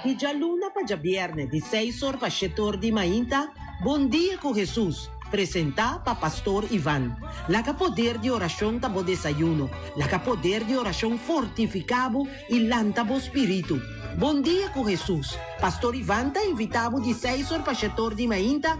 Di djaluna pa djabièrnè di seis or pa shete or di mainta, Bon Dia ku Hesus, presentá pa Pastor Ivan. Laga poder di orashon ta bo desayuno. Laga poder di orashon fortifiká bo i lanta bo spiritu. Bon Dia ku Hesus, Pastor Ivan ta invitá bo di seis or pa shete or di mainta,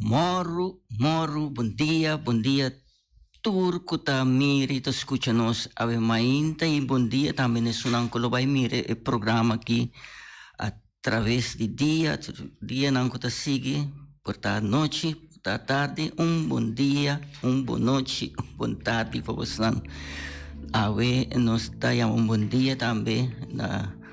Morro, morro, bon dia, bon dia tur cu ta mira y ta scucha nos. Awe mainta y bon dia tambe na esunnan cu lo bay mira e programa aki a traves di dia, dianan cu ta sigui, por ta anochi, por ta tardi. Un bon dia, un bon nochi, un bon tardi pa bosnan. Awe nos ta yama un bon dia tambe na.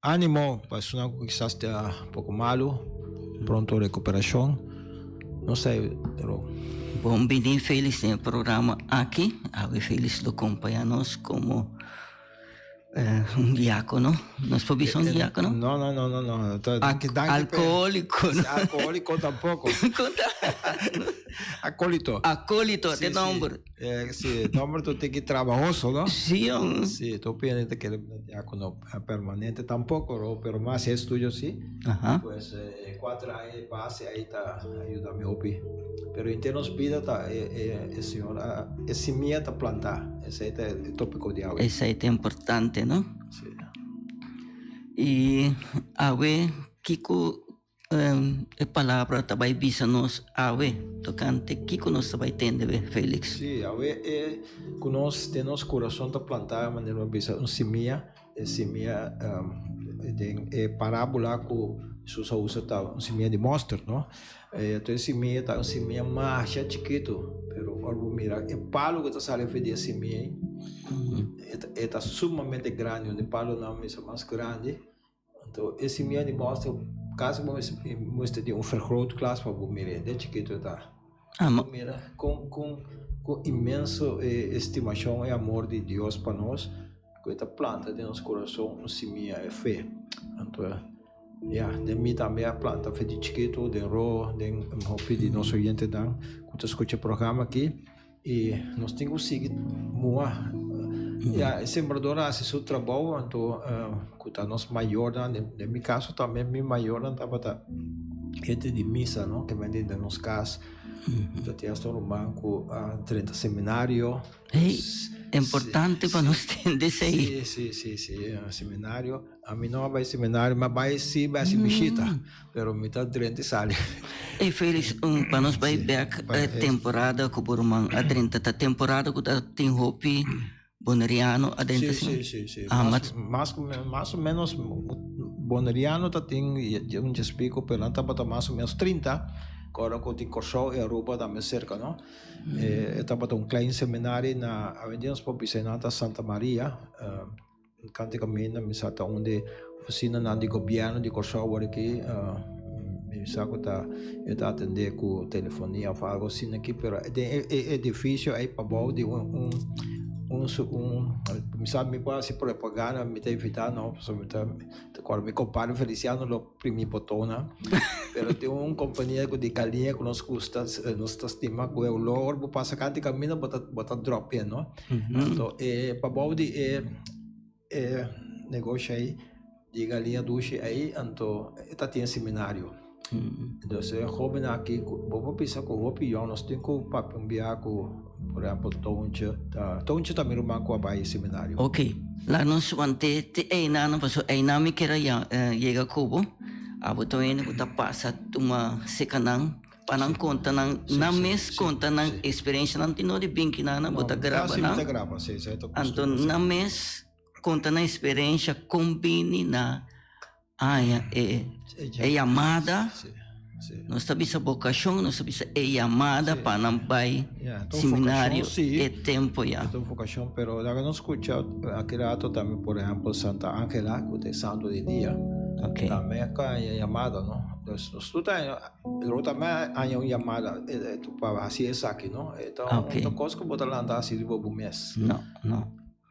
Animo pa esunnan cu kisas ta poco malu, pronto recuperacion. No sai Ro. Bon bini Felix den e programa aki. Awe Felix lo compaya nos como un diacono. Nos por bisa un diacono? No, no, no, no, no. Ta, danki, danki. Alcoholico. No. Alcoholico tampoco. Conta. Acolito. Acolito, si, te nombre. Si, eh, si nombre tu tiki trabajoso, no? Si, um. Si, tu piensa que diacono. permanente tampoko ro pero mas e estudio si pues e kuater aña di base ai ta yuda mi hopi pero i te nos bida ta e señor a e simia ta planta esei ta e topiko di awe. Esei ta importante no i awe kiko E palabra ta bai bisa nos awe tokante kiko nos ta bai tende awe, Felix? Sí, awe e ku nos den nos kurason ta plantá, manera bo a bisa, un simia. E simia den e parábola ku Hesus a usa ta un simia di mòsterd, no? Ato e simia ta un simia masha chikitu, pero ora bo mira e palu ku ta sali afuer di e simia ei, e ta sumamente grandi, un di palunan mester mas grandi. Anto e simia di mostra casi bo mester tin un vergroot glas pa bo mira den chikito e ta pa bo mira con inmenso estimacion y amor di Dios pa nos cu e ta planta den nos corazon un simia di fe anto ya den mi tambe a planta fe di chikito den Roe den hopi di nos oyentenan cu ta scucha e programa aki. E nos tin ku sigui mua. Ya, e sembrador a hasi su trabou, anto ku ta nos mayornan, den mi kaso tambe mi mayornan tabata hende di misa, no, ke men den nos kas. Ta tin asta un ruman ku a drenta seminario. Hey, importante pa nos tende esei. Si, si, si, si, seminario. Ami no a bai seminario, ma bai si bai haci bishita, pero mi ta drenta y sali. Ey Felix, pa nos bai bek temporada cu bo ruman a drenta, ta temporada cu ta tin hopi Boneriano adentro si? Si, si, si, mas o menos Boneriano ta tin un dies pico, pero nan tabata mas o menos trinta, cu ora cu di Corsou y Aruba tambe cerca, no? E tabata un klein seminario na, awendia nos por bisa nan ta Santa Maria. Kante kaminda mi sa ta un di oficinanan di gobierno di Kòrsou awor-akí. Mi sa ku ta e ta atendé ku telefonia òf algu asin akí, pero den e edifisio ei pabou di un un un mi sa mi por hasi propaganda, mi ta evitá nò, pasobra mi ta mi ta kòrda mi kompare Felisiano lo. primi botona pero tin un kompania ku di kaliña ku nos gusta nos ta stima ku e olor ora bo pasa kantu di kamina bo ta bo ta drop bien no anto e pa bou di e e negoshi ai di e kaliña dushi ai anto e ta tin seminario entonces hobennan aki bo por bisa ku hopi yon nos tin ku papia un biaha ku Por ehempel, Toontsje ta, Toontsje ta mi ruman ku a bai e seminario. Ok, laat nos wan te, te eina nan, paso eina mi ker a ya, eh, yega ku bo. Abo ta un hende ku ta pasa tuma seka nan, pa nan konta nan, Sí, nan sí, mes sí, konta nan sí. eksperensianan, i no di binki nada, bo No, ta graba kasi mi nan. ta graba, sí, esei ta Anto, kustum esei. nan mes konta nan eksperensia kon bini na Aña e e yamada. Nos ta bisa vocacion, nos ta bisa e yamada pa nan bai seminario e tempo ya. Eto vocacion, pero laga nos scucha aki rato tambe por ehempel Santa Angela cu ta e santo di dia. Okay. Tambe a caña yamada, no? Nos, nos tur ta aña, pero tambe a aña un yamada e, e, pa haci esaki, no? Eto, Okay. eto cos cu bo ta lanta haci riba bo mes. No, no.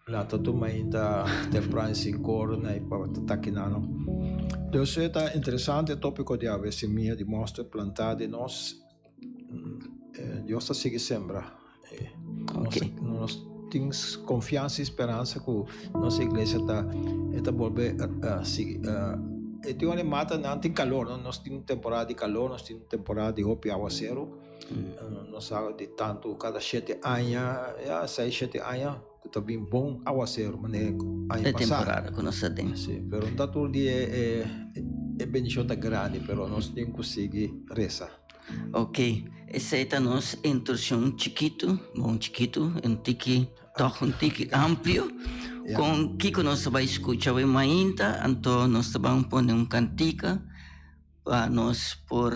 Nan ta tuma ainda tempran e sinkoro na e patakinano. Deus e ta interesante topiko di awe simia di mosto plantá den nos. Dios ta sigui sembra i nos tin konfiansa i speransa ku nos iglesia ta e ta bolbe sigui. E tin ora e mata nan tin kalor, nos tin temporada di kalor, nos tin temporada di hopi awaseru. Nos awe di tantu kada shete aña, ya esei shete aña ku ta bin bon awaseru manera e aña pasá. E temporada ku nos ta ten. Sí, pero no ta tur dia e bendishon ta grandi, pero nos tin ku sigui resa. Ok, esei ta nos introdushon un chikitu, bon chikitu, un tiki tòg, un tiki amplio, kon kiko nos ta bai skucha awe mainta. Anto nos ta ban pone un kantika pa nos por.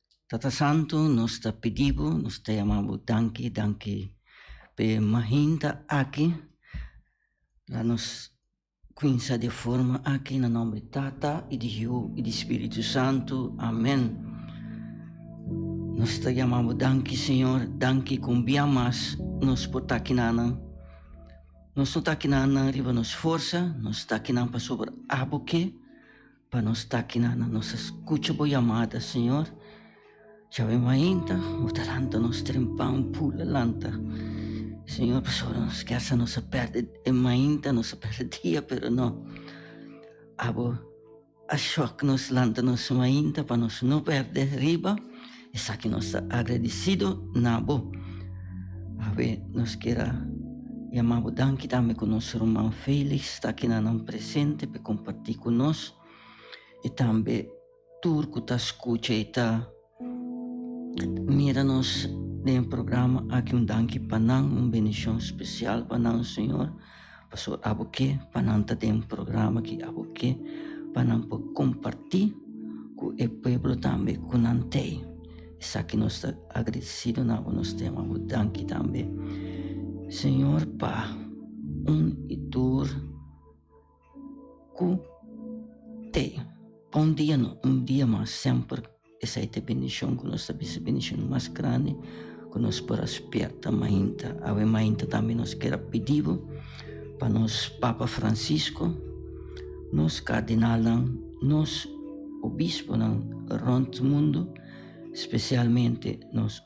Tata Santu, nos ta pidi bo, nos ta yama bo danki, danki pa e majinta aki. La nos cuinsa di e forma aki na nomber di Tata y di Hijo y di Spiritu Santu. Amen. Nos ta yama bo danki, Señor, danki cu un bia mas nos por ta aki nan. Nos no ta aki nan riba nos forsa, nos ta aki nan pasobra abo ke. Pa nos taki nana nos a skucha bo yamada Señor Yahweh mainta bo ta lanta nos trempan pula lanta Señor pasobra nos kèsa nos a pèrdè mainta nos a pèrdè dia pero no abo a shòk nos lanta nos mainta pa nos no pèrdè riba. Esaki nos ta agradisido na bo. Awe nos kier a yama bo danki tambe ku nos ruman Felix ta aki na nan presente pa kompartí ku nos i tambe tur ku ta skucha i ta mira nos den e programa aki. Un danki pa nan, un bendishon spesial pa nan, señor. Paso abo ke pa nan ta den programa ki abo ke pa nan por kompartí ku e pueblo tambe ku nan tei. Esaki nos ta agradesido na abo, nos ta yama bo danki tambe. Señor pa un i tur ku tei. Pa un dia no, un dia mas semper. Esei ta e bendishon ku nos ta bisa, e bendishon mas grandi ku nos por a spierta mainta. Awe mainta tambe nos kier a pidi bo pa nos Papa Francisco, nos kardinalnan, nos obisponan rònt mundu, spesialmente nos.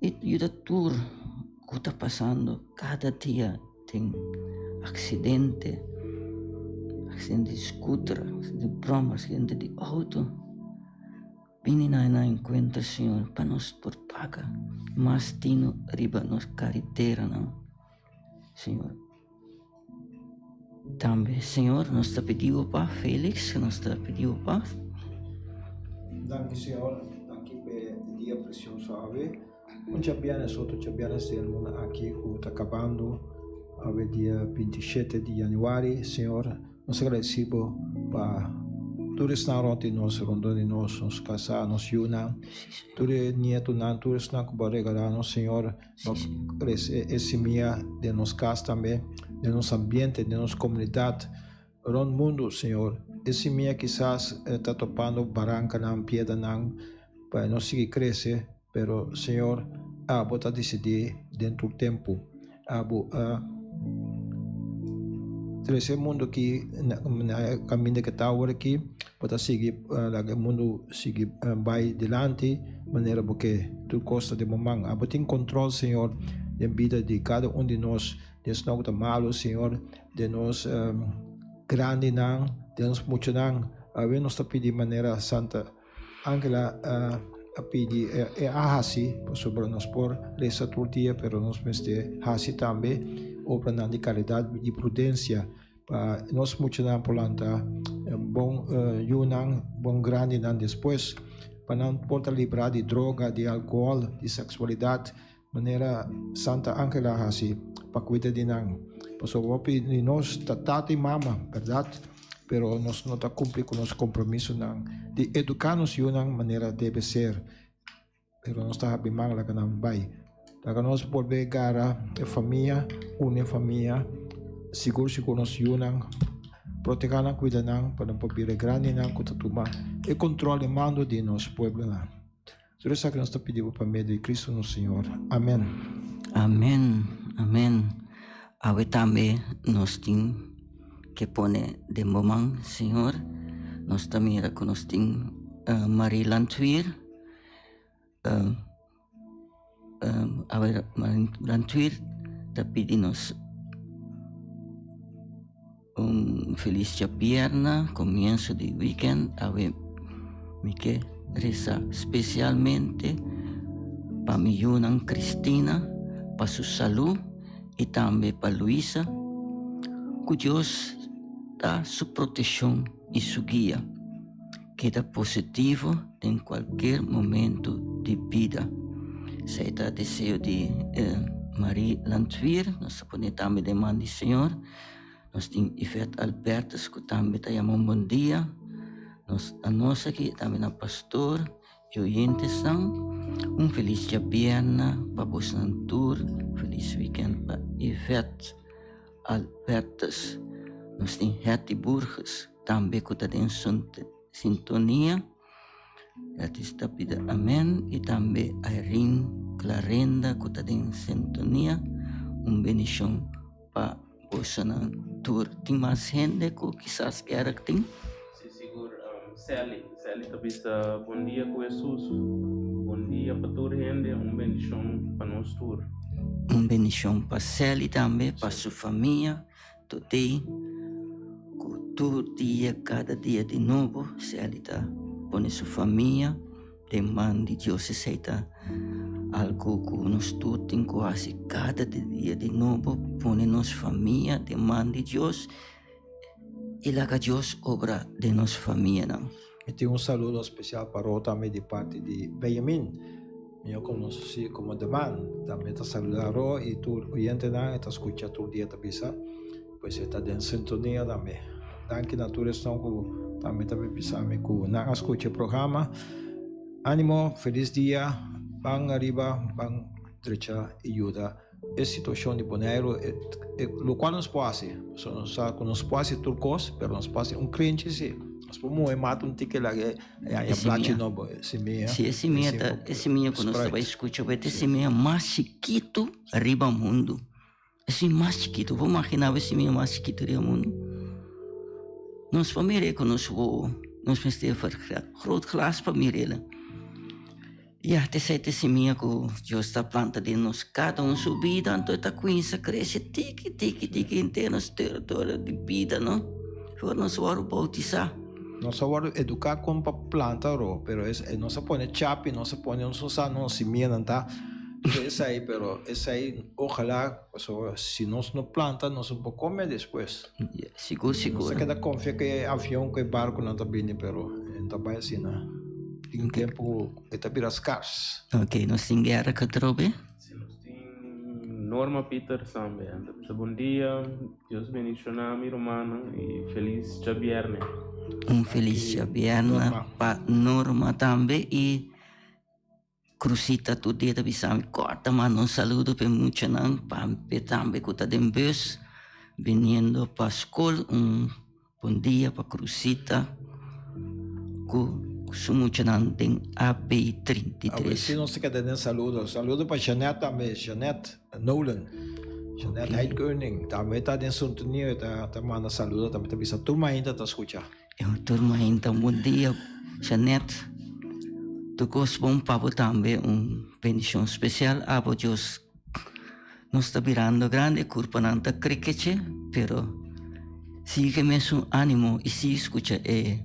E yuda tur ku ta pasando kada dia den aksidente, aksidente di skuter, aksidente di broma, aksidente di outo, bini na nan enkuenter señor pa nos por paga mas tino riba nos kariteranan. Señor. Tambe, Señor, nos ta pediu pa Felix, que nos ta pediu pa. Danki, Señor. Danki pe dia presion suave. Un chabiana soto chabiana se luna aki ku ta kabando. Awe dia 27 di januari, Señor. Nos agradesi bo pa tur esnan rond di nos, rondon di nos, nos kasa, nos yunan, tur e nietunan, tur esnan ku bo a regala nos, Señor. Nos crece e simia den nos cas tambe, den nos ambiente, den nos comunidad, rond mundo, Señor. E simia kisas ta topando barancanan, piedanan, pa e no sigui crece, pero, Señor, Abo ta dicidi den tur tempo. Abo a trece e mundo aki na e caminda ke ta aworaki. Bo ta sigui laga e mundu sigui bai dilanti manera bo ke. Tur kos ta den bo man. Abo tin kontròl, Señor, den bida di kada un di nos, di esnan ku ta malu, Señor, den nos grandinan, den nos muchanan. Awe nos ta pidi manera Santa Angela a pidi, e a hasi, pasobra nos por resa tur dia, pero nos mester hasi tambe obranan di karidat i prudensia. pa nos muchanan por lanta bon yunan bon grandinan despues pa nan por ta libra di droga di alcohol di sexualidad manera santa angela a hasi pa cuida di nan pasobra hopi di nos ta tata y mama berdad pero nos no ta cumpli cu nos compromisonan di educa nos yunan manera debe ser Pero nos ta happy man laga nan bai. Laga nos por be gara e famia, uni e famia. Sigur sigur nos yunan protehanan, kuidanan pa nan por bira e grandinan ku ta tuma e kontrol, e mando di nos pueblonan. Tur esaki nos ta pidi bo pa medio di Kristu nos Siñor. Amen. Amen, amen. Awe tambe nos tin ke pone den bo man, Siñor. Nos ta mira ku nos tin Marie Lantwier. Brantwiel ta pidi nos un felis diabierna, komienso di wikènt awe mi ke resa spesialmente pa mi yunan Cristina pa su salu i tambe pa Luisa ku Dios ta su proteshon i su guia. Keda positivo den cualquier momento di bida. Sei ta deseo di eh, Marie Lantwier, nos ta pone tambe den man di Señor. Nos tin Yvette Albertus, cu tambe ta yama un bon dia. Nos, a nos aki, tambe na pastor y oyentesan, un feliz djabièrna pa bosnan tur. Feliz weekend pa Yvette. Albertus. Nos tin Hetty Burgers tambe ku ta den sintonia. Hetty ta pidi amen i tambe Irene Clarenda ku ta den sintonia. Un bendishon pa bosonan tur. Tin mas hende ku kisas guera tin? Si sigur Sally Sally ta bisa bon dia ku Hesus bon dia pa tur hende un bendishon pa nos tur. Un bendishon pa Sally tambe pa su famia totei ku tur dia kada dia di nobo Sally ta pone su famia den man di Dios esei ta algu ku nos tur tin ku hasi kada dia di nobo pone nos famia den man di Dios. Y laga Dios obra den nos famia nan. Mi tin un saludo special pa Ro tambe di parti di Benjamin, mijo conoci como The Man, tambe ta saluda Ro y tur oyentenan, e ta scucha tur dia ta bisa, pues e ta den sintonia tambe. Danki na tur esnan cu tambe ta bin bisa mi cu nan a scucha e programa, animo, feliz dia, pan ariba, pan drecha y yuda. E situacion di Boneiru e locual nos por haci, pasobra nos sa cu nos por haci tur cos, pero nos por haci un crenchi si. Nos por moe mata un tike la e haña plachi nobo, e simia. Si, e simia ta, e simia cu nos ta bai scucha bo, e ta e simia mas chikitu riba mundu. E simia mas chikitu. Bo magina bo e simia mas chikitu riba mundu? Nos pa mira e cu nos wowo. Nos mester fai grot glas pa mira ela. I esta es e simia ku Dios ta planta den nos kada un su bida, anto e ta kuinsa kreshe tiki tiki tiki henter nos teritorio di bida no, for nos a wòrdu boutisá. Nos a wòrdu eduká kon pa planta ro, pero es nos a pone chapi, nos a pone un su sa nos simianan ta te esei, pero esei ojalá pasobra si nos no planta nos no por kome despues. Sigur sigur. Nos ta keda konfia ku e avion ku e barkunan ta bini pero e no ta bai asina. Tin un tempu ku e ta bira skars. Ok, nos tin guera ka trobe. Si nos tin Norma Peter tambe. Anto bisa bon dia, Dios bendiciona mi rumannan i felis djabierne. Un felis djabierne pa Norma tambe i. Crusita tur dia ta bisami corta manda un saludo pe muchanan pampe tambe cu ta den bus biniendo pa school un bon dia pa Crusita cu su muchanan den AP 33. Awe si nos ta keda den saludo. Saludo pa Jeanette tambe, Jeanette. Nolan. Chanel okay. Heidkoning, tambe ta den sintonia, e ta, ta manda saludo, tambe ta bisa tur mahinta ta escucha. Eu tur mahinta, un bom dia, Janet. Tu kos bom papo tambe, un bendición especial abo Dios. Nos ta birando grande, kurpanan ta krekeche, pero sigue mesun ánimo y sigue escucha e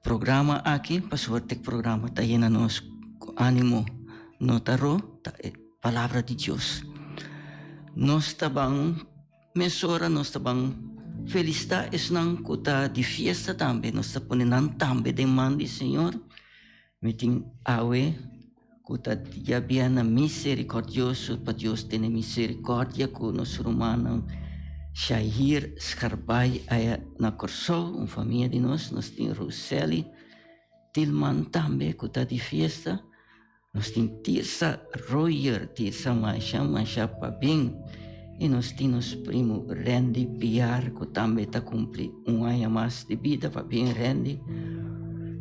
programa aki pasobra te programa ta yena nos ku animo no ta ro ta e palabra di Dios nos ta ban mesora nos ta ban felisita esnan ku ta di fiesta tambe nos ta pone nan tambe den man di señor Mi tin awe cu ta diabia na misericordioso pa Dios tene misericordia cu nos rumannan Shahir Scharbay aya na Corsou, un famia di nos. Nos tin Rouseli Tilman tambe cu ta di fiesta. Nos tin Tirsa Royer, Tirsa Mansha, Mansha Pabin. I nos tin nos primu Randy Biar ku tambe ta kumpli un aña mas di bida. Pabien Randy.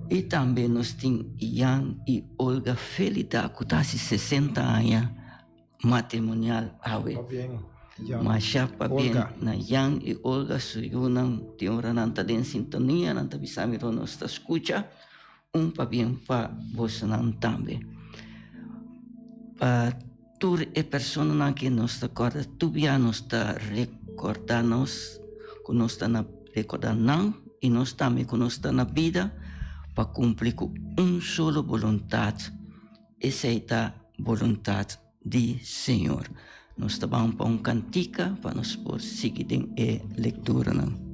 I tambe nos tin Jan i Olga Felida ku ta hasi sesenta aña matrimonial awe. Pabien Jan. Masha pabien Olga. na Jan i Olga su yunan. Tin ora nan ta den sintonia, nan ta bisa mi, nos ta skucha. un pabien pa bosonan tambe. Pa tur e personanan ke nos ta kòrda, tur bia nos ta rekòrda nos ku nos ta na rekòrda nan i nos tambe ku nos ta na bida pa kumpli ku un solo boluntat, esei ta boluntat. di Señor. Nos ta ban pa un cantica pa nos por sigui den e lecturanan.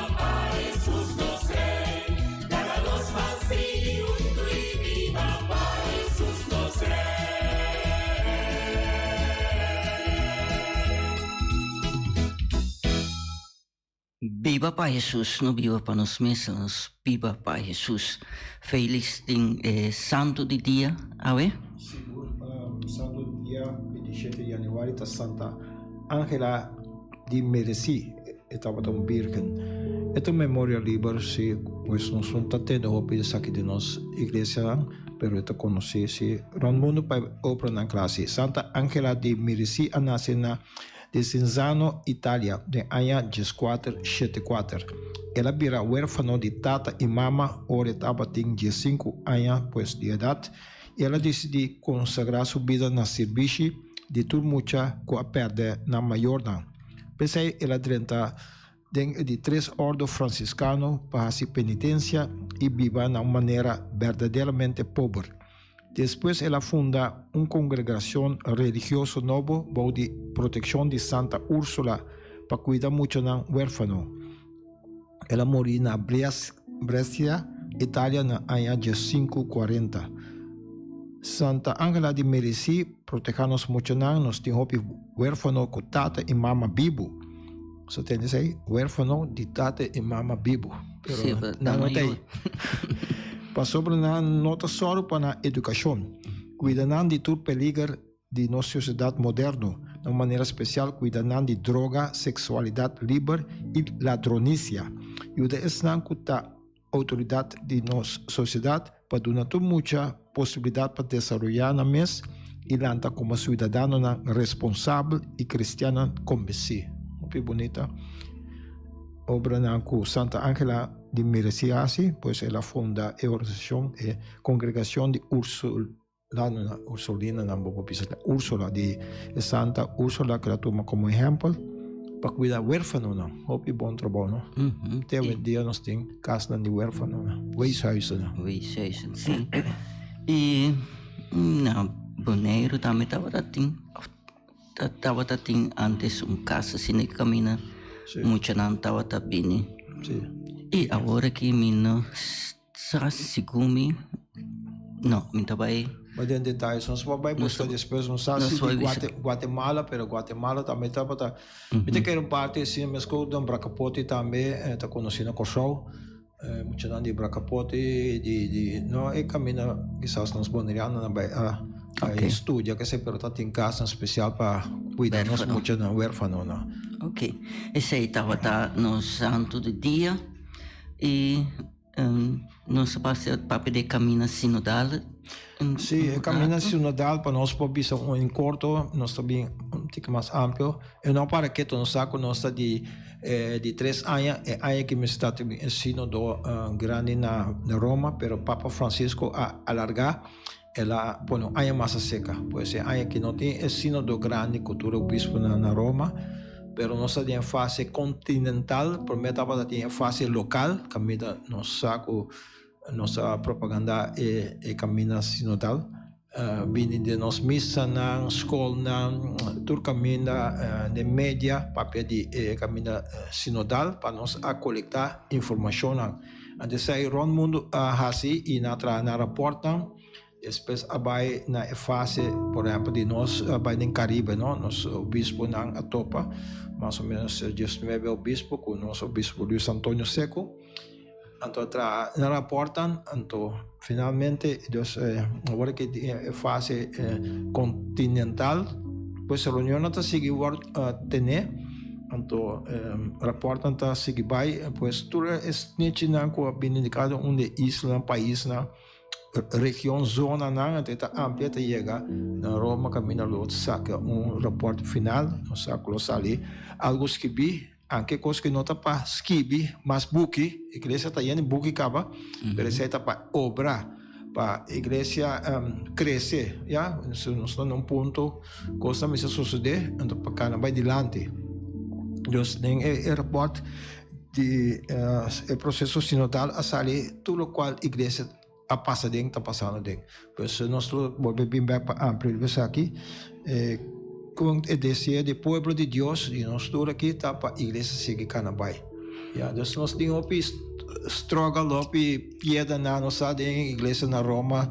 Biba pa Hesus, no biba pa nos mes, sino nos biba pa Hesus. Felix tin e santo di dia awe? Sigur, santo di dia 27 di januari ta Santa Angela. Di meresí, e tabata un bírgen. E ta un memoria liber, sí, pues nos no ta tende hopi di esaki den nos iglesianan, pero e ta konosé, sí. Rònt mundu pa e obranan kla así. Santa Ángela di Meresí a nase na Desenzano, Italia, den aña dieskuater shete kuater. El a bira huérfano di tata i mama ora e tabatin diesinku aña pues di edat. El a disidí konsagrá su bida na sirbishi di tur mucha ku a pèrdè nan mayornan. P'esei el a drenta den e di tres òrdo fransiskano pa hasi penitensia i biba na un manera berdaderamente pober. Despues el a funda un kongregashon religioso nobo bou di protekshon di Santa Úrsula pa kuida muchanan wérfano. El a morí na Brescia, Italia na aña diesinku kuarenta. Santa Angela di Merisi protehá nos muchanan, nos tin hopi wérfano ku tata i mama bibu. So tende esei? Wérfano di tata i mama bibu. Sí, Pero pero ta nan no mayor. tei. Pasobra nan no ta sòru pa nan edukashon. Kuida nan di tur peliger. di nos sosiedat moderno, na un manera spesial kuida nan di droga, seksualidat liber i ladronisia. Yuda esnan ku ta outoridat di nos sosiedat pa duna tur mucha posibilidat pa desaroyá nan mes i lanta komo siudadanonan responsabel i kristiannan kombensí. Hopi bunita obranan ku Santa Ángela di Mira si hasi, pues el a founda e organisashon, e kongregashon di Ursul. Dando na Ursulina nan bo por bisa ta Ursula di e Santa Ursula que la tuma como ejemplo pa cuida huérfano nan. Hopi bon trabajo no. Mm-hmm. Te hoy día nos tin casa nan di huérfano nan, weeshuizen nan. Weeshuizen, sí. y na Bonaire también estaba ta tin estaba ta tin antes un casa sin que camina. Sí. Mucha nan estaba ta bini. Sí. Y ahora que mi no Sa segun mi no mi ta bai. Bai den detalles nos por bai buska despues nos a si di guatemala pero guatemala tambe tabata mi ta kere un parti asina mesco den bracapote tambe ta conoci na Corsou muchanan di bracapote y di di no e caminda kisas nos bonerianan a bai a bai studia kese pero ta tin casanan special pa cuida nos muchanan huerfanonan. Ok esey tabata nos santo di dia. E nos a parse ot papia di e Camina Sinodal. Sí, e Camina Sinodal pa nos por bisa un en corto, nos ta bin un tic mas amplio. E no para keto, nos sa cu nos ta di, eh, di tres aña, e aña que mi sta e Sínodo uh, grandi na, na Roma, pero Papa Francisco a alarga. El a pone un aña mas a seka. Pues e aña ki no tin e sínodo grandi ku tur e obisponan na Roma, pero nos ta den e fase kontinental. Promé tabata tin e fase lokal, kaminda nos sa ku nos a propagandá e e kaminda sinodal, bini den nos misanan, skolnan, tur kaminda, den media, papia di e kaminda sinodal pa nos a kolektá informashonnan. A desai rond mundu a hasi i nan a traha nan rapòrtnan. Despues a bai na e fase, por ehèmpel di nos a bai den Karibe, no, nos obisponan a topa, mas o ménos diesnuebe obispo ku nos obispo Luis Antonio Seco. Anto a traha nan rapòrtnan, anto. Finalmente, dus awor ke tin e fase kontinental, pues reunionnan ta sigui wòrdu tené, anto rapòrtnan ta sigui bai, pues tur e snitjinan ku a bini di kada un di e islanan, paisnan, region, zonanan anto e ta amplia ta yega na Roma kaminda lo saka un rapòrt final, lo sa ku lo sali algu skibí. An ke kos ke no ta pa skibi mas buki, iglesia ta yen di buki kaba, pero esei ta pa obra, pa iglesia krese, ya, si nos ta na un punto kosnan mester sosode, anto pa kana bai dilanti. Dus den e report di e proseso sinodal a sali tur lokual iglesia. Ta pasa den, ta pasando den. Pues nos lo bolbe bin bek pa ampliar esaki, con e deseo di e pueblo di Dios y nos tur aki ta pa iglesia sigui cana bay. Ya, dus nos tin hopi struggle, hopi pieda na nos sa den e iglesia na Roma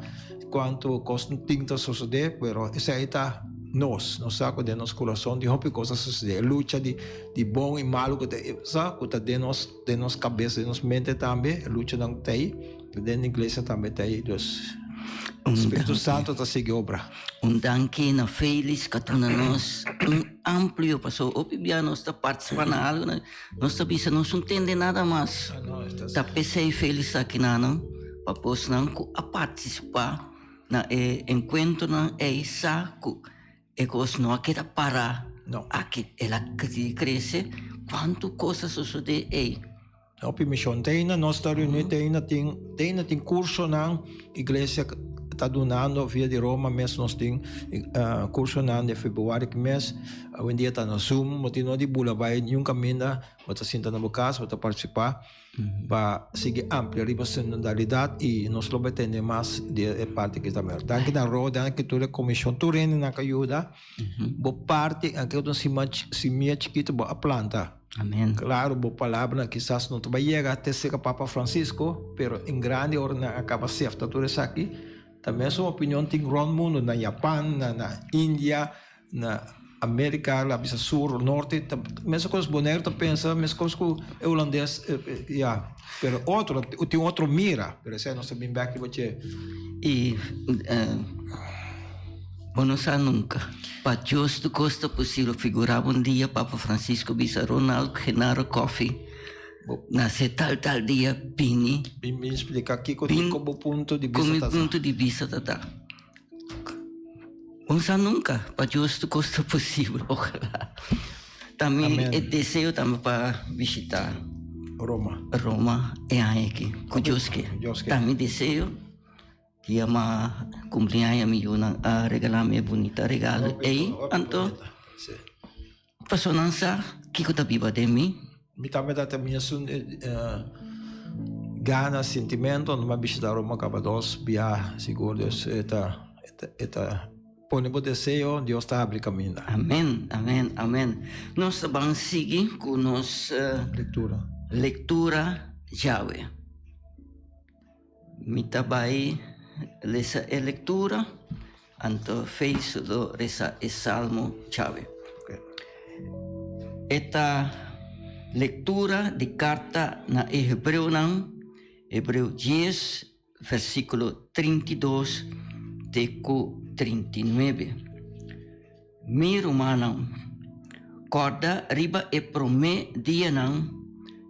cuanto cos no tin ta sucede, pero esaki ta nos. Nos sa cu den nos curason tin hopi cos ta sucede. E lucha di bon y malo cu ta sa cu ta den nos. Den nos kabes, den nos mente tambe, e luchanan ta ei, i den e iglesia tambe ta ei. Dus, e spiritu santu ta sigui obra. Un danki na Feilis cu a duna nos un amplio paso. Hopi bia nos ta participa na algo, nos ta bisa nos no tende nada mas. Ta pesey Feilis ta aki na nan pa bosnan cu a participa na e encuentronan ei sa cu E gozo no a keda pará No. aki, el a sigui krese. Kuantu kos a sosodé ei? Op e mishon Teina, nos ta reuní Teina tin Teina tin kursonan iglesia k- ta dunando via di Roma mes nos tin eh kursonan den februari ki mes awendia ta na zoom no tin no di bula bai niun kaminda bo ta sinta na bo kas bo ta partisipá. pa sigui amplia riba sinodalidat y nos lo bay tende mas di e parti aki tambe. Danki na Ro, danki tur e comision, tur hende nan ke yuda, bo parti aki ta un sima, simia chikito bo a planta. Amen. Claro, bo palabranan kisas no ta bay yega te sega Papa Francisco, pero en grandi ora nan a kaba sefta tur esaki, ta mesun opinion tin rond mundo, na Japan, na, na India, Na America la bisa sur o norte ta mes cos Bonaire ta pensa mes cos cu e Holandes ya pero otro tin otro mira pero esai nos ta bin back riba che y bo no sa nunca pa Dios tur cos ta posible figurabo un dia Papa Francisco bisa Ronald Genaro Coffey na se tal tal dia bini bin explica kico tin cu mi punto di vista ta ta. Bon sa nunca, pa Dios tu cos ta posible, ojalá. También Amen. el deseo también para visitar Roma. Roma, e año que, con Dios que. También deseo, dia ma cumpleaños mi yuna a regalarme bonita regalo. Ey, anto. Sí. Personanan sa kiko ta biba den mi. Mi tambe ta tene mesun gana, sentimento, no mi a bishita Roma kaba dos bia. Sigur Dios e ta, e ta pone bo deseo, Dios ta habri kaminda. Amen, amen, amen. Nos ta ban sigui ku nos. Lektura. Lektura djawe. Mi ta bai lesa e lektura. Anto fei su lo resa e salmo chawe. E ta lectura di carta na e Hebreonan, Hebreo dies, versiculo trinta i dos te cu trinta i nuebe. Mi rumannan, kòrda riba e promé dianan,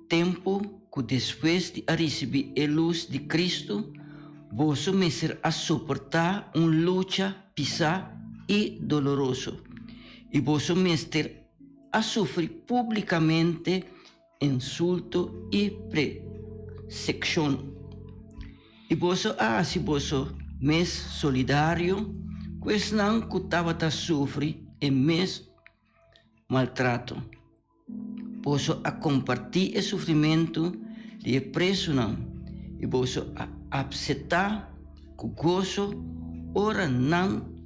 tempu ku despues di a risibí e lus di Kristu, boso mester a soportá un lucha pisá i doloroso, i boso mester a sufri públikamente insulto i preseccion. I boso a haci boso mes solidario cu esnan cu tabata sufri e mes maltrato. Boso a comparti e sufrimentu di e presonan i boso a apseta cu goso ora nan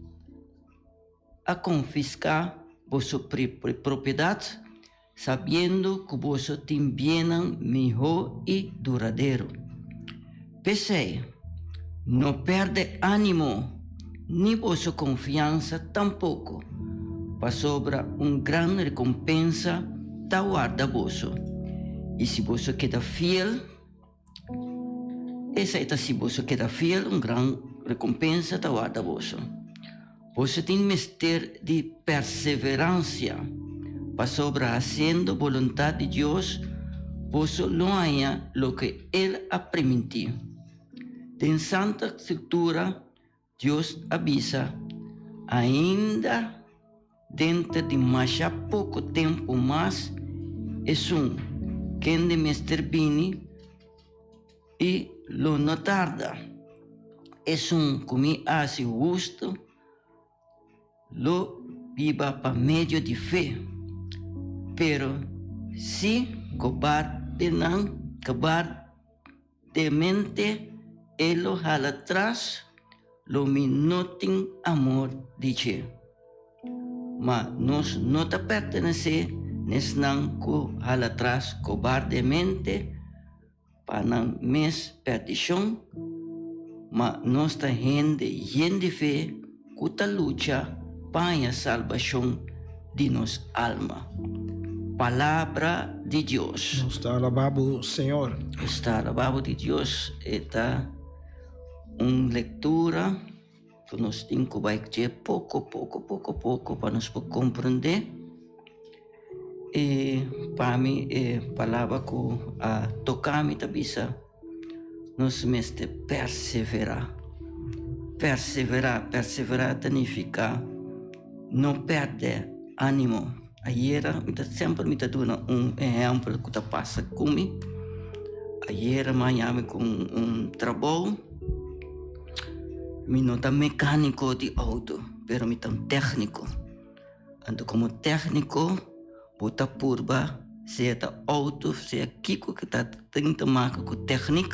a confisca boso propiedad, Sabiendo cu boso tin biennan miho i duradero. P'esei, no perde animo, ni boso confiansa tampoco, pasobra un gran recompensa ta warda boso. I si boso keda fiel. Esei ta si boso keda fiel un gran rekompensa ta warda boso. Boso tin mester di perseveransia pasobra hasiendo boluntat di Dios boso lo haña loke el a primintí. Den Santu Skritura Dios a bisa, Ainda denter di masha poko tempu mas, esun, kende mester bini, i lo no tarda. Esun ku mi hasi hustu lo biba pa medio di fe. Pero si kobardenan, kobardnan, Demente e lo hala tras lo mi no tin amor di dje. Ma nos no ta pertenesé n'esnan cu hala tras cobardemente pa nan mes perdi-cion, ma nos ta hende yen di fe, Ku ta lucha paña salbashon di nos alma. Palabra di Dios. Nos ta alabá Bo, Señor. Nos ta alabá Bo, di Dios. E ta un lektura ku nos tin ku bai dje poko poko, poko poko pa nos por komprendé. I pa mi e palabra ku a toká mi ta bisa. Nos mester perseverá. Perseverá, perseverá ta nifiká no pèrdè ánimo. Ayera mi ta semper mi ta duna un ehèmpel ku ta pasa ku mi. Ayera mi a haña mi ku un un trabou, mi no ta mekániko di outo, pero mi ta un tèkniko. Anto komo tèkniko Bo ta purba sea ta auto of sea kiko ku ta tin ta maka ku teknik,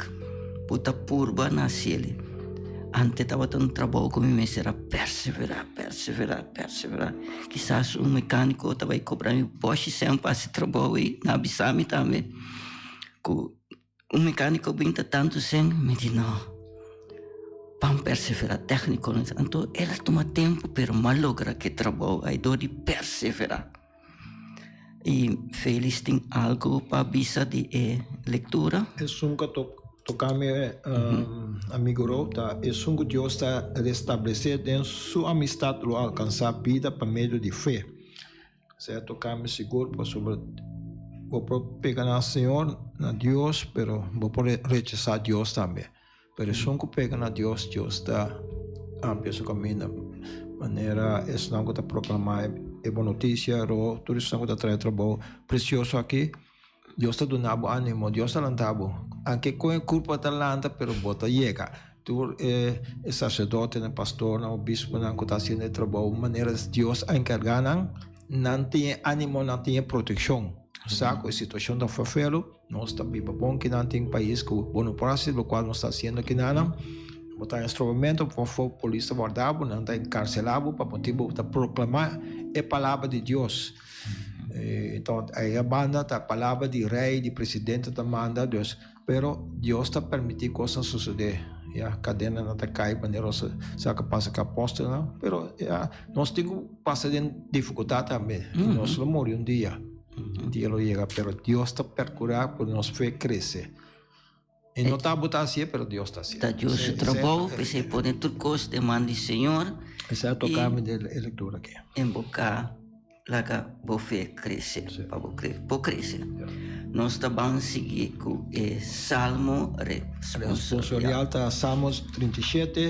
bo ta purba na hasiel. Ante tabata un trabou ku mi mester a perseverá, perseverá, perseverá. Kisas un mekaniko ta bai kobra mi, Boshi sempa hasi trabou ei, na bisa mi tambe ku. Un mecanico bin ta tanto sen, mi di no. Pan persevera técnico, anto el a toma tempo pero ma logra ke trabao ai dor di persevera. I Felis tin algo pa bisa di e lectura? Esun ku a tok toka mi amigo Ro, ta esun ku Dios ta restablesé den su amistat lo alkansá bida pa medio di fe. Seto cambio sigur pasobra bo por pega na Señor, na Dios, pero bo por rechazá Dios tambe. Pero esun cu pega na Dios, Dios ta amplia su camino manera esnan cu ta proclamá e bon noticia, ro tur esnan cu ta traha trabou precioso aki. Dios ta duna bo animo, Dios ta lanta bo. Anke con e curpa ta lanta, pero bo ta yega. Tur e, e sacerdotenan, pastornan, obisponan cu ta haciendo e trabou manera Dios a encarga nan, nan tin e animo, nan tin e proteccion. Sa cu e situacion ta fafelu, nos ta biba bon aki nan tin pais cu bo no por haci locual nos ta haciendo aki na nan. Bo ta na estrobamento, pasobra polis ta warda bo, nan ta encarcela bo pa motibu bo ta proclama e palabra di Dios. Enton, ei a banda ta palabra di rei, di presidente ta manda, dus, pero Dios ta permití kosnan sosodé, ya, kadenanan ta kai manera nos sa ke pasa ku apòstelnan, pero ya, nos tin ku pasa den difikultat tambe, i nos lo muri un dia, un dia lo yega, pero Dios ta perkurá pa nos fe krese. E no ta bo ta hacié, pero Dios ta hacié. Ta Dios su trabou, p'esei pone tur cos den man di Señor. Esei a toca mi den e lectura aki. En bo ca laga bo fe crece, pa bo cre, por crece. Nos ta ban sigui cu e Salmo Responsorial. Responsorial ta Salmos trinta i shete,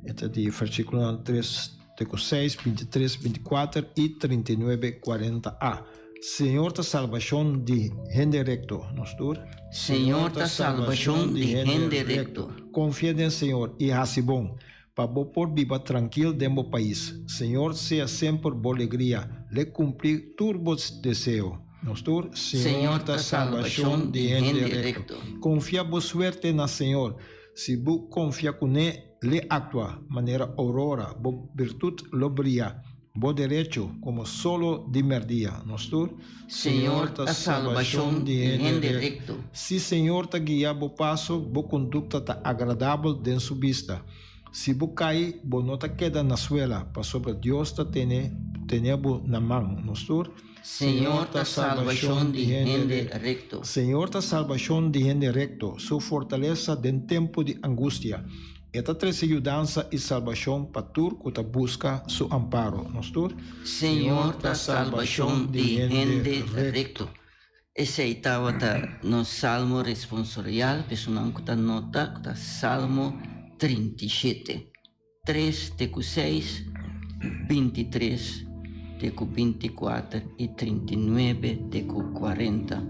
e ta di versiculonan tres. Te ku seis, binti i tres, binti i kuater i trinta i nuebe, kuarenta a. Señor ta salbashon di hende rekto, nos tur. Señor ta salbashon di hende rekto. Konfia den Señor i hasi bon, pa bo por biba trankil den bo pais. Señor sea semper bo legria, l'e kumpli tur bo deseo, nos tur. Señor ta salbashon di hende rekto. Konfia bo suerte na Señor, si bo konfia kuné. Lé actua manera aurora, bo birtut lo bria, bo derecho como solo di merdia. Nos tur, Señor ta salbacion di hende recto. Si Señor ta guia bo paso, bo conducta ta agradabel den su bista. Si bo cai, bo no ta keda na suela, pasobra Dios ta tene bo na man. Nos tur. Señor ta salbacion di hende recto. Señor ta salbacion di hende recto, su fortalesa den tempu di angustia. E ta trece yudansa i salbacion pa tur cu ta busca su amparo. Nos tur. Señor ta salbacion di hende recto. Esey tabata nos salmo responsorial, pesonan cu ta nota cu ta salmo trinta y shete. tres te ku seis, binti tres te ku binti kuater i trinta i nuebe te ku kuarenta.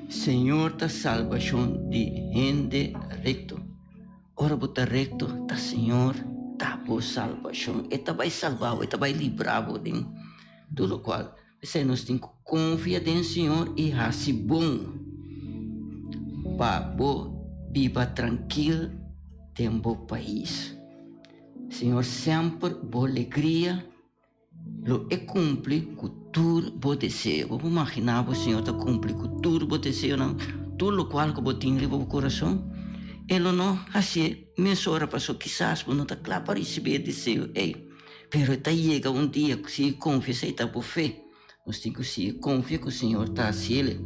Señor ta salbashon di hende rekto. Ora bo ta rekto, ta Señor ta bo salbashon. E ta bai salba bo, e ta bai libra bo den tur lokual. P'esei nos tin ku konfia den Señor i hasi bon pa bo biba trankil den bo pais. Señor semper bo legria lo e kumpli ku tur bo deseo. Bo por maginá bo Señor ta kumpli ku tur bo deseonan, tur lokual ku bo tin riba bo kurason? E lo no hasié mesora, pasobra kisas bo no ta kla pa risibí e deseo ei. Pero e ta yega un dia cu si e confia esey ta bo fe. Nos tin cu sigui confia cu Señor ta hacele.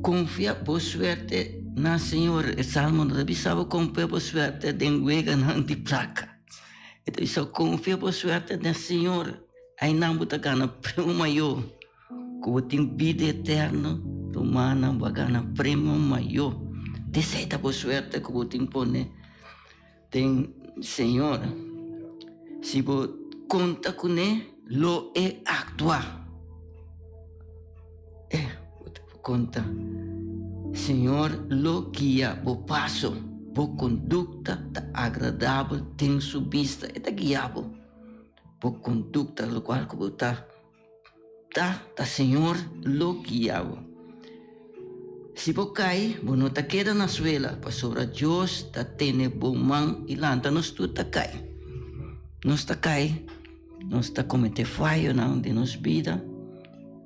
Confia bo suerte na Señor. E salmo no ta bisaba confia bo suerte den weganan di placa. E ta bisaba confia bo suerte den Señor. Aynan bo ta gana premio mayo. Cu bo tin bida eterno, rumannan bo a gana premio mayo. Te esey ta bo suerte cu bo tin pone. Tin Señor, si bo conta cu ne, lo e actua. E bo ta por conta, Señor, lo guia bo paso, bo conducta ta agradabel den su bista. E ta guia bo, bo conducta, locual cu bo ta. Ta ta Señor lo guiabo. Si bo cay, bo no ta keda na suela, pasobra Dios ta tene bo man y lanta. Nos tur ta cay, nos ta cay, nos ta comete fayonan den nos bida,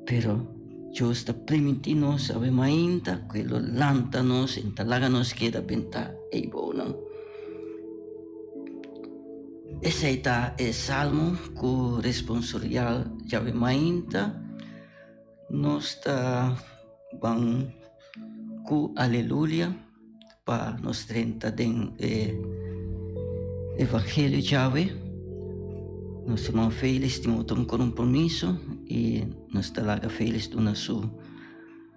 pero Dios ta primiti nos a bai mainta cu e lo lanta nos, e ta laga nos keda benta ey bounan. Esei ta e salmo ku responsorial djawe mainta. Nos ta ban ku alelulia pa nos drenta den e evangelio djawe. Nos siman Felis tin otro un kompromiso i nos ta laga Felis duna su.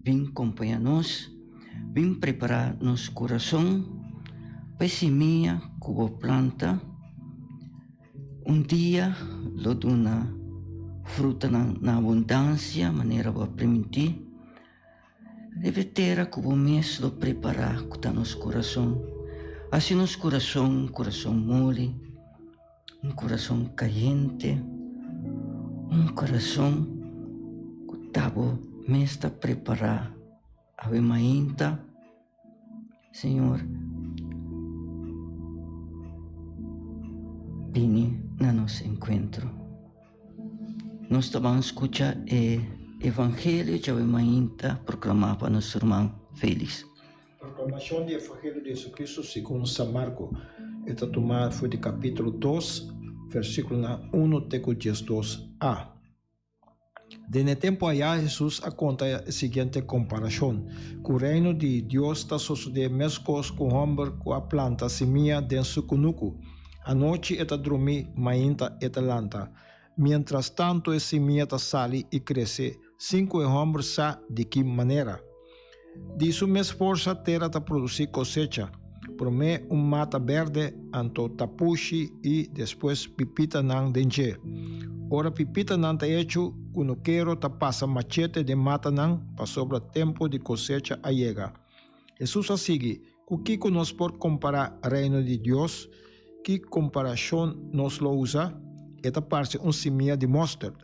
Bin kompañá nos, bin prepará nos kurason pa e simia ku bo planta. Un dia lo duna frutanan na abundansia manera bo a primintí. Riba e tera ku bo mes lo prepará ku ta nos kurason, hasi nos kurason kurason moli. un corazon cayente, un corazon cu tabo mes ta prepara. Awe mainta, Señor, bini na nos encuentro. Nos ta ban scucha e evangelio djawe mainta proclama pa nos herman Felix. Proklamashon di evangelio di JesuCristo segun San Marko, e ta tumá for di kapítulo dos, versíkulonan unu te ku diesdos a. Den e tempu ayá Hesus a konta e siguiente komparashon, Ku reino di Dios ta sosodé meskos ku hòmber ku a planta simia den su kunuku. Anochi e ta drumí, mainta e ta lanta. Mientras tanto e simia ta sali i krese sin ku e hòmber sa di ki manera. Di su mes forsa tera ta produsí kosecha, promé un mata bèrdè, anto tapushi i despues pipitanan den dje. Ora pipitanan ta echu, kunukero ta pasa machete den matanan pasobra tempu di kosecha a yega. Hesus a sigui, Ku kiko nos por kompará Reino di Dios? Ki komparashon nos lo usa? E ta parse un simia di mòsterd,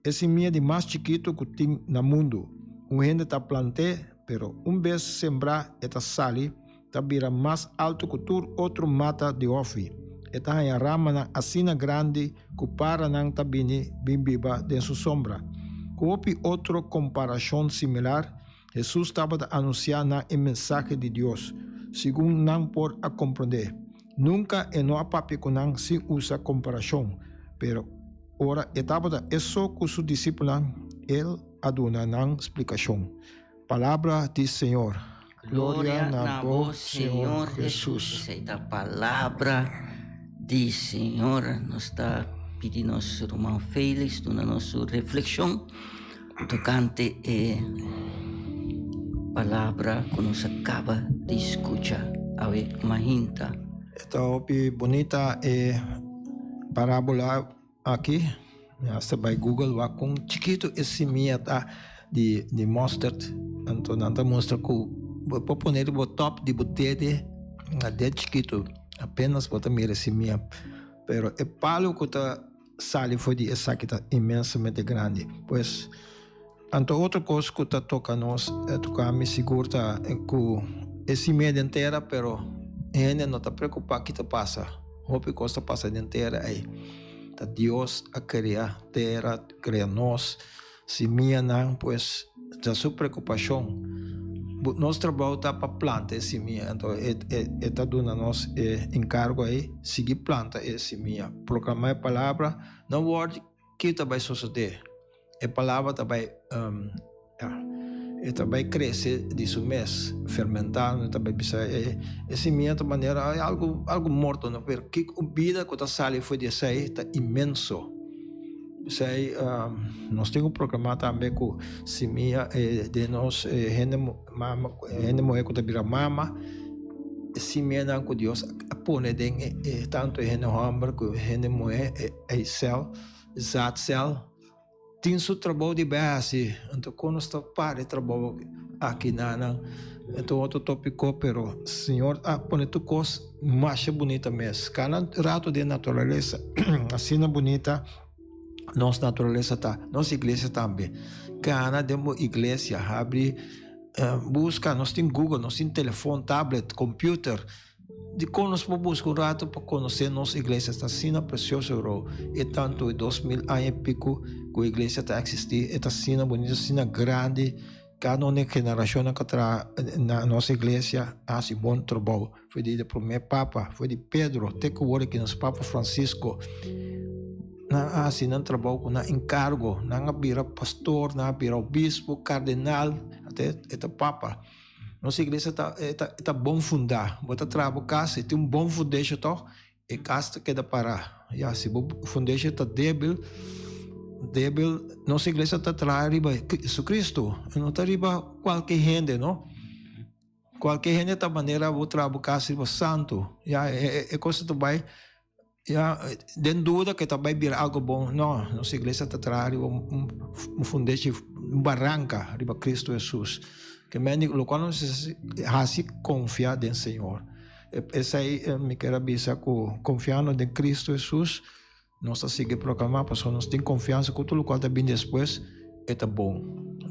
e simia di mas chikitu ku tin na mundu. Un hende ta plant'é, pero un bes sembrá e ta sali, ta bira mas altu ku tur otro mata di hòfi. E ta haña ramanan asina grandi ku paranan ta bini bin biba den su sombra. Ku hopi otro komparashon similar, Hesus tabata anunsiá nan e mensahe di Dios segun nan por a komprond'é. Nunka e no a papia ku nan sin usa komparashon, pero ora e tabata eso ku su disipelnan, el a duna nan splikashon, Palabra di Señor. Gloria na bo, Señor Hesus. Esei ta palabra di Señor. Nos ta pidi nos ruman Felix duna nos su reflekshon. tokante e palabra ku nos a kaba di skucha. Awe mahinta. E ta hopi bunita e parábola aki. Mi hasta bai Google wak kon chikitu e simia ta di mustard. Anto nan ta mustra ku bo por pone riba bo top di bo tede, den chikitu, apenas bo ta mira e simia. Pero e palu ku ta. sali for di esaki ta inmensamente grandi. Pues, anto otro cos cu ta toca nos, e toca mi sigur ta cu e simia den tera, pero e hende no ta preocupa ki ta pasa. Hopi cos ta pasa den tera ey. Ta Dios a crea tera, crea nos, Si mianan pues ta su preokupashon. Bu, nos trabou ta pa planta e simia, anto e, e, e ta duna nos e enkargo ei, sigui planta e simia, proklamá e palabra na wòrdu ke ta bai sosodé. E palabra ta bai, um, ya, e ta bai krese di su mes, fermentá, no ta bai bisa e, e simia ta manera e algu, algu morto, no, pero ki bida ku ta sali afue di esei ta inmenso. P'esei nos tin ku proklamá tambe ku simia den nos hende mama, hende muhé ku ta bira mama, e simianan ku Dios a pone den tantu e hende hòmber ku e hende muhé, e sèl, e zatsèl, tin su trabou di bai hasi. Anto kon nos ta para e trabou aki nan? Anto otro tòpiko, pero Siñor a pone tur kos. Masha bunita mes. Cada rato den naturalesa. Asina bunita nos naturalesa ta. Nos iglesia tambe. Gana den bo iglesia habri busca. Nos tin google, nos tin telefon, tablet, computer. Dikon nos por busca un rato pa conoce nos iglesia ta asina precioso bro. E tanto e dos mil aña y pico cu e iglesia ta existi e ta asina bunita, asina grandi. Ka no ne generashonnan ku a traha na nos iglesia a hasi bon trabou. Foi di e promé papa, foi di Pedro te ku wor aki nos Papa Francisco. Nan a hasi nan trabou ku nan enkargo. Nan a bira pastor, nan a bira obispo, kardenal, ata e ta papa. Nos iglesia ta, e ta, e ta bon fundá. Bo ta traha bo kas, e tin un bon fundesho tòg. E cas ta keda pará. Ya, si bo fundesha ta débil, débil, nos iglesia ta traha riba Jesucristo, no ta riba cualke hende, no. Cualke hende ta manera bo traha bo cas riba santu. Ya, e cos ta bai, ya, den duda cu e ta bai bira algo bon. No, nos iglesia ta traha riba un fundesha, un baranca riba Cristo Jesus. Locual nos hasi confia den Señor. Esei mi ker a bisa ku konfiándo den Kristu Hesus nos ta sigui proklama pasobra nos tin konfiansa ku tur lokual ta bini despues e ta bon.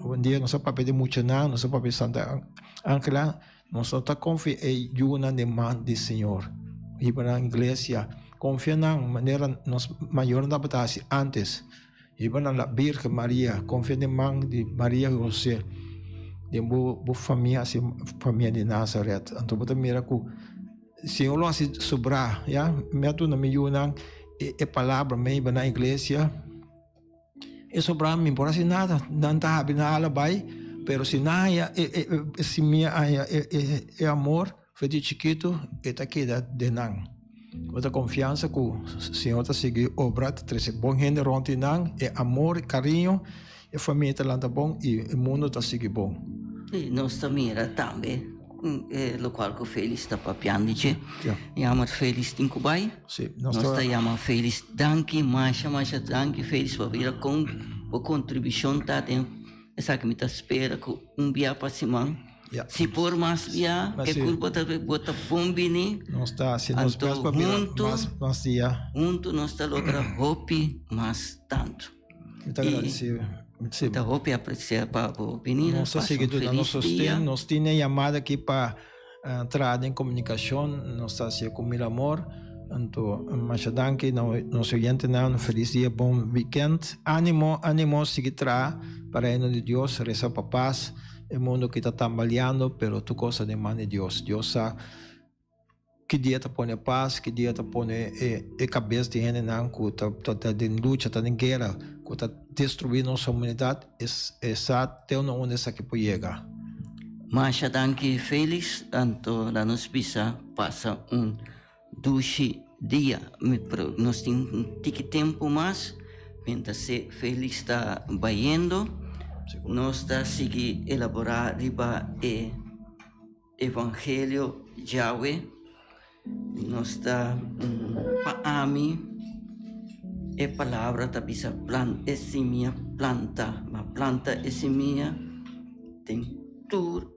Owendia nos a papia di muchanan, nos a papia di santa angelnan, nos no ta konfia e yunan den man di Señor. Hibrinan, iglesia, konfia nan manera nos mayornan tabata hasi ántes. Hibanan la Birgen Maria, konfia den man di Maria i Hosé, den bo bo famia hasi famia di Nasaret. Anto bo ta mira ku Señor lo hasi sobrá, ya, mi a duna mi yunan e e palabra meiba na iglesia, e sobrá mi por hasi nada, nan ta habi nan hala bai, pero si nan haña e e e simia haña e e e amor, Fe di chikitu e ta keda den nan. Bo ta konfiansa ku Señor ta sigui obra, ta trese bon hende rond di nan, e amor, e kariño, e famia ta lanta bon i e mundu ta sigui bon. I nos ta mira tambe e lokual ku Félix ta papian di dje. Ya. Yama Félix tin ku bai. Si, nos Nos ta ta yama Félix. Danki, masha masha danki Félix pabira kon bo kontribushon ta den esaki mi ta spera ku un bia pa siman Si por mas dia e kurpa ta be bo ta bon bini anto huntu huntu nos ta logra hopi mas tantu mi ta hopi apresia pa bo binida pasa un felis dia. Nos tin e yamada aki pa traha den komunikashon nos ta hasié ku mil amor anto masha danki nos oyentenan un felis dia bon wikènt animo animo sigui traha pa reino di Dios resa pa pas. E mundo ki ta tambaleando, pero tur cosa den man di Dios. Dios sa ki dia ta pone pas, ki dia ta pone e, e cabes di hendenan cu ta, ta, ta den lucha, ta den guerra, cu ta destrui nos humanidad, es, e sa te un unda esaki por yega. Masha danki Felix, tanto la nos bisa pasa un Dushi dia mi pro nos tin un tiki tempu mas mientras se Felix ta bayendo nos ta sigui elabora riba e evangelio djawe y nos ta pa ami e palabra ta bisa plan e simia planta ma planta e simia den tur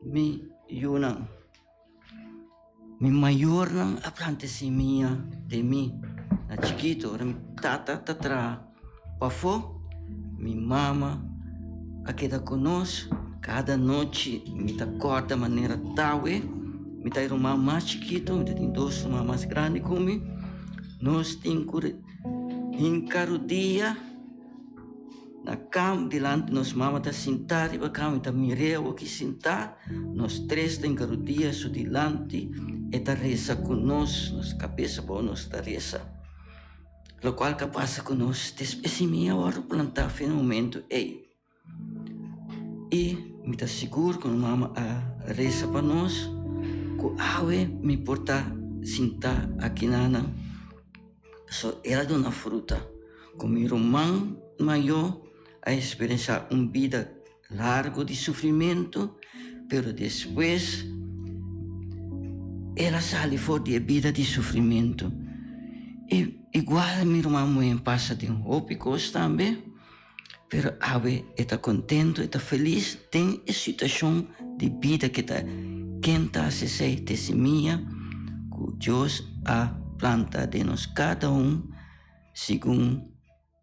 Mi yunan, mi mayornan a planta e simia di mi. Na chikitu, ora mi tata ta traha pafó, mi mama a keda ku nos. Kada nochi mi ta korta manera tawe. Mi ta e ruman mas chikitu, mi ta tin dos ruman mas grandi ku mi. Nos tin ku hinka rudia. Na kam dilanti nos mama ta sintá riba kam i ta mir'é awor ki sintá, nos tres ta inkarudia su dilanti, e ta resa ku nos, nos kabesa bou nos ta resa. Lokual ka pasa ku nos, despues si mi awor a plantá fe na momentu ei i mi ta sigur ku nos mama a resa pa nos, ku awe mi por ta sintá aki nan nan. so e a duna fruta. Ku mi ruman mayó a eksperiensá un bida largu di sufrimentu, pero despues el a sali for di e bida di sufrimentu. I igual mi ruman Moen pasa den hopi kos tambe. Pero awe e ta kontentu, e ta felis den e situashon di bida ke ta kenta sesei te simia ku Dios a planta den nos kada un segun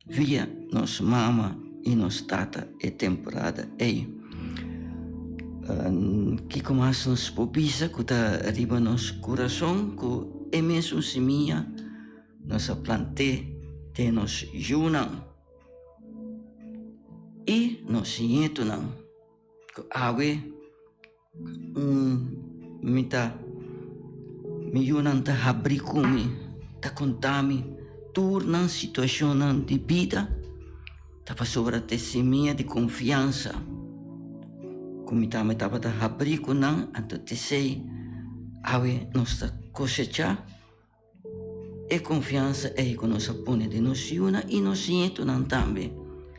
via nos mama i nos tata e temporada ei. Kiko mas nos por bisa ku ta riba nos kurason ku e mesun simia nos a plant'é den nos yunan? I nos ñetunan, ku awe mi ta, mi yunan ta habri ku mi, ta konta mi tur nan situashonnan di bida, ta pasobra ta e simia di konfiansa ku mi tambe tabata habri ku nan, anto tisei awe nos ta kosechá E konfiansa ei ku nos a pone den nos yunan i nos nietunan tambe.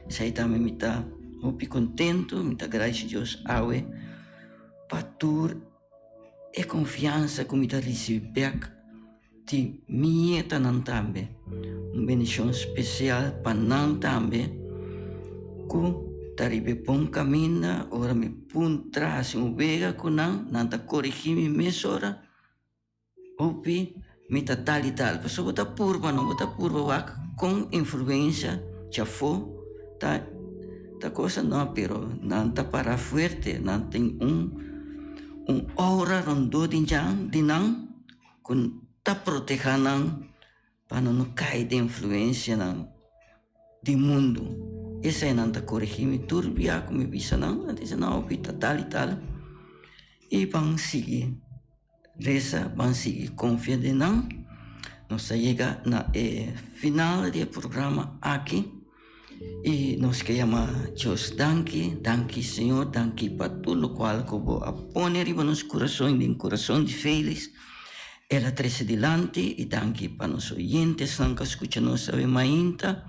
Esei tambe mi ta hopi kontentu, mi ta gradisi Dios awe pa tur e konfiansa ku mi ta risibi bèk di mi nietanan tambe. Un bendishon spesial pa nan tambe ku ta riba e bon kaminda. Ora mi pun trahasi un wega ku nan, nan ta korigí mi mesora. Hopi mi ta tal y tal, pasobra bo ta purba no, bo ta purba wak con influencia chafó ta ta cosa no, pero nan ta para fuerte, nan tin un un aura rondó di djan di nan cu ta proteha nan. Pa no no cay den influencianan di mundo. Esey nan ta corigi mi tur bia cu mi bisa nan. Nan ta dice, No, hopi ta tal y tal. Y ban sigui reza, ban sigui confia den nan. Nos a yega na e final di e programa aki. I nos ke yama Dios danki, danki Señor, danki pa tur lokual ku bo a pone riba nos kurason i den kurason di Félix. El a trese dilanti i danki pa nos oyentesnan ku a skucha nos awe mainta.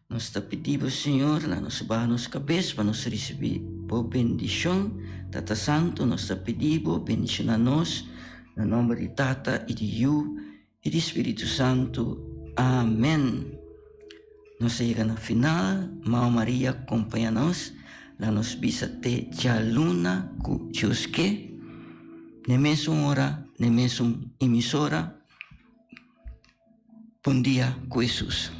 Nos ta pidi bo, Señor, la nos baha nos kabes pa nos risibi bo bendishon. Tata Santu, nos ta pidi bo bendishona nos, na nomber di Tata i di Yu. i di Spiritu Santu. Amen. Nos a yega na final, Mama Maria kompaña nos, la nos bisa te djaluna ku Dios ke, n'e mesun ora, n'e mesun imisora. Bon dia ku Hesus.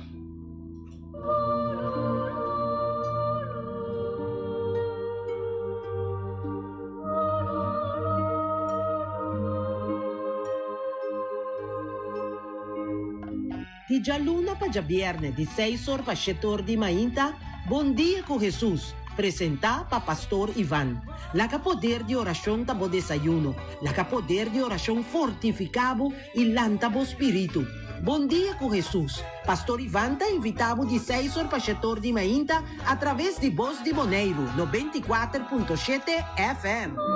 Di djaluna pa djabièrnè di seis or pa shete or di mainta, Bon Dia ku Hesus, presentá pa Pastor Ivan. Laga poder di orashon ta bo desayuno. Laga poder di orashon fortifiká bo i lanta bo spiritu. Bondia ku Hesus. Pastor Ivan ta invitá bo di seis or pa shet or di mainta atraves di Bos di Boneiru nobenta i kuater punto shete FM.